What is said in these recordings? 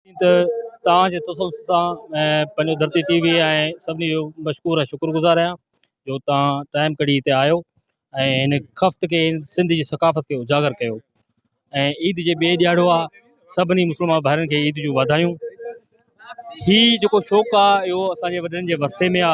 ائين ته توهان جي تسلسل سان پنهنجو ڌرتي ٽي وي ۽ سڀني جو مشڪور ۽ شڪر گذار آهيان جو توهان ٽائيم ڪڍي هتي آيو ۽ هن خفت کي سنڌ جي ثقافت کي اجاگر ڪيو ۽ عيد جي ٻئي ڏياڙو آ سڀني مسلمان ڀائرن کي عيد جون واڌايون هي جيڪو شوق آ اهو اسان جي وڏڙن جي ورثي ۾ آ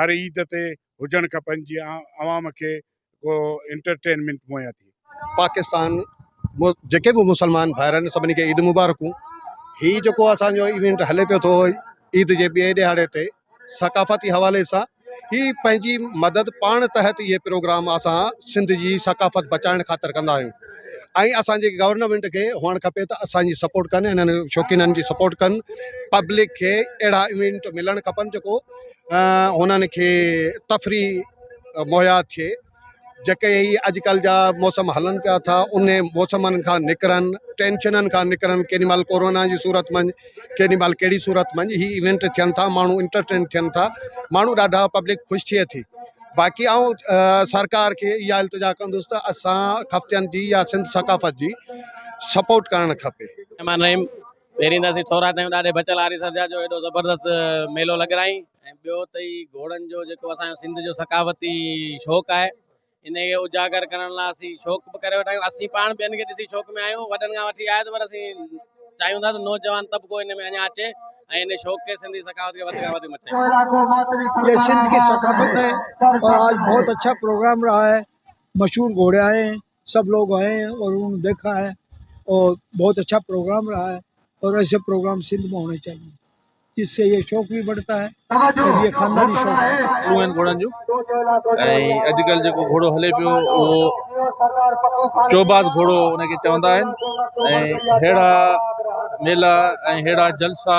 هر عيد تي هجڻ کپن جيئن عوام کي ڪو انٽرٽينمينٽ مهيا ٿئي. پاڪستان جيڪي به مسلمان ڀائر آهن سڀني کي عيد مبارڪون هي جيڪو اسان جو ايونٽ هلي پيو ٿو عيد جي ٻئي ڏهاڙي تي ثقافتي حوالي سان هي پنهنجي مدد پاڻ تحت اهي پروگرام اسان سنڌ جي ثقافت بچائڻ خاطر ڪندا آهيون ۽ اسان جي گورنمينٽ کي هئڻ کپي ته اسان جي سپورٽ ڪن انهن شوقينن جي سپورٽ ڪن پبلڪ کي اهڙا ايونٽ ملڻ کپن جيڪو هنن کي تفريح مهيا ٿئي جيڪي هي اڄڪلھ جا موسم هلن پيا ٿا ان موسمن کان نڪرن ٽينشنن کان نڪرن ڪيڏيمهل ڪورونا جي صورت منجھ ڪيڏيمهل ڪهڙي صورت منجھ هي ايونٽ ٿين ٿا ماڻهو انٽرٽين ٿين ٿا ماڻهو ڏاڍا پبلڪ خوش ٿئي ٿي باقي آئون سرڪار کي اها التجا ڪندس ته اسان خفتين جي يا سنڌ ثقافت جي سپورٽ ڪرڻ کپي پهرين ته اسين ٿورا ٿيون ڏاڏي بچل آريسر جا جو ايڏو زبردست ميلو لڳرائين ۽ ٻيو ته هي گهوڙن جو جيڪو اسان جو سنڌ جو ثقافتي شوق آهي ان کي اجاگر ڪرڻ لاء اسين شوق به ڪري ويٺا آهيون اسين پاڻ ٻين کي ڏسي شوق ۾ آهيون وڏن کان وٺي آيت پر اسين چاهيون ٿا ته نوجوان طبقو ان ۾ اڃا اچي ۽ ان شوق کي سنڌي ثقافت کي وڌ کان وڌ مٿي آڻي يا سنڌ کي ثقافت ۽ آج بهت اڇا پروگرام رها هي مشهور گهوڙا هي سڀ لوگ آئي هين اور انهون ني ديکا هي اور بهت اڇا پروگرام رها هي اور ايسي پروگرام سنڌ ۾ هوني چاهيي جس سي يه شوق بهي بڙهتا هي اور يه خانداني شوق هي. شروع آهن گهوڙن جون ۽ اڄڪلهه جيڪو گهوڙو هلي پيو اهو چوباز گهوڙو ان کي چوندا آهن ۽ ههڙا ميلا ۽ ههڙا جلسا